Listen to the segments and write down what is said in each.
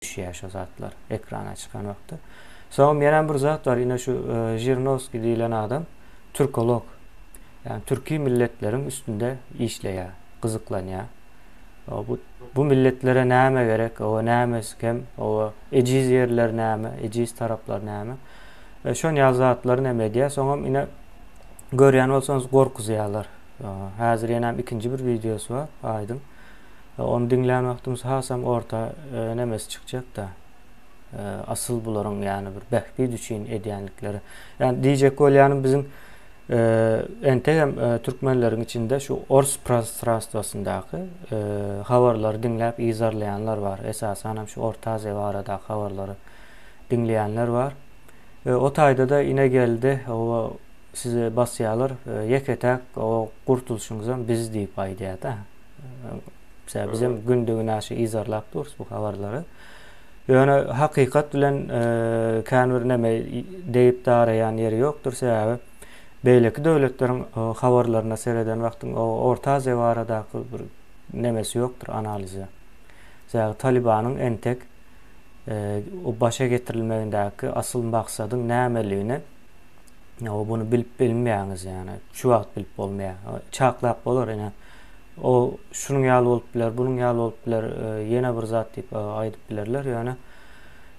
düşýär şo zatlar ekrana çykan wagtda. Soňam ýene bir zat bar, ine şu e, Žirnowskiý diýilen adam türkolog. Ýagny türki milletleriň üstünde işleýär, gyzyklanýar. Bu bu milletlere näme gerek, owa näme iskem, owa ejiz ýerler näme, ejiz taraplar näme. E, şon ýaly zatlary näme edýär. Soňam ine görýän bolsaňyz gorkuzýarlar. Häzir ýene ikinji bir wideosy bar, aýdyň. Ony diňlän wagtymyz hasam orta nemesi çykjakda. Asyl bularyň ýany bir bähbit üçin edýändikleri. Ýani diýjek bolýanym biziň entegem türkmenleriň içinde şu ors prostranstwasyndaky habarlary diňläp yzarlaýanlar bar. Esasanam şu Orta Aziýa baradaky habarlary diňleýänler bar. O taýda-da Inegeldi oba sizi basýalar, ýeke-täk oba gurtulşyňyzam biz diýip aýdýada. Mesela biz hem günde günaşy izarlap durus bu habarlary. Ýöne hakykat bilen e, kän bir näme deýip daraýan ýeri ýokdur. Sebäbi beýleki döwletleriň e, habarlaryna sereden wagtyň o Orta Aziýa baradaky bir nämesi ýokdur analizi. Sebäbi Talibanyň entek e, o başa getirilmegindäki asyl maksadyň nämeligini Ýa-da buny bilip bilmeýäňiz ýa-da şu wagt bilip bolmaýar. Çaklap bolar ýa-da o şunuň ýaly bolup biler, bunuň ýaly bolup biler, e, ýene bir zat diýip e, aýdyp bilerler. Ýöne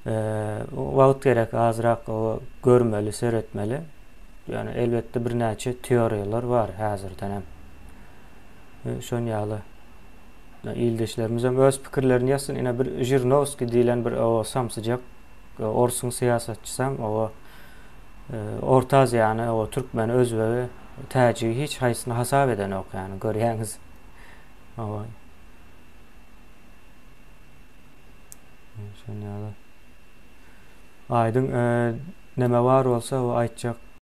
e, wagt gerek azrak görmeli, seretmeli. Ýöne elbetde birnäçe teoriýalar bar häzirden hem. E, şoň ýaly ildeşlerimiz hem öz pikirlerini ýazsyn. Ine bir Žirnowskiý diýlen bir o samsyjak Orsuň syýasatçysam, oba, Orta Aziýany, oba, türkmeni, özbegi, täjigi hiç haýsyny hasap edenok, ýagny, görýäňiz. Oba. Şonda ýaly. Aýdyň, neme bar bolsa, oba, aýtjak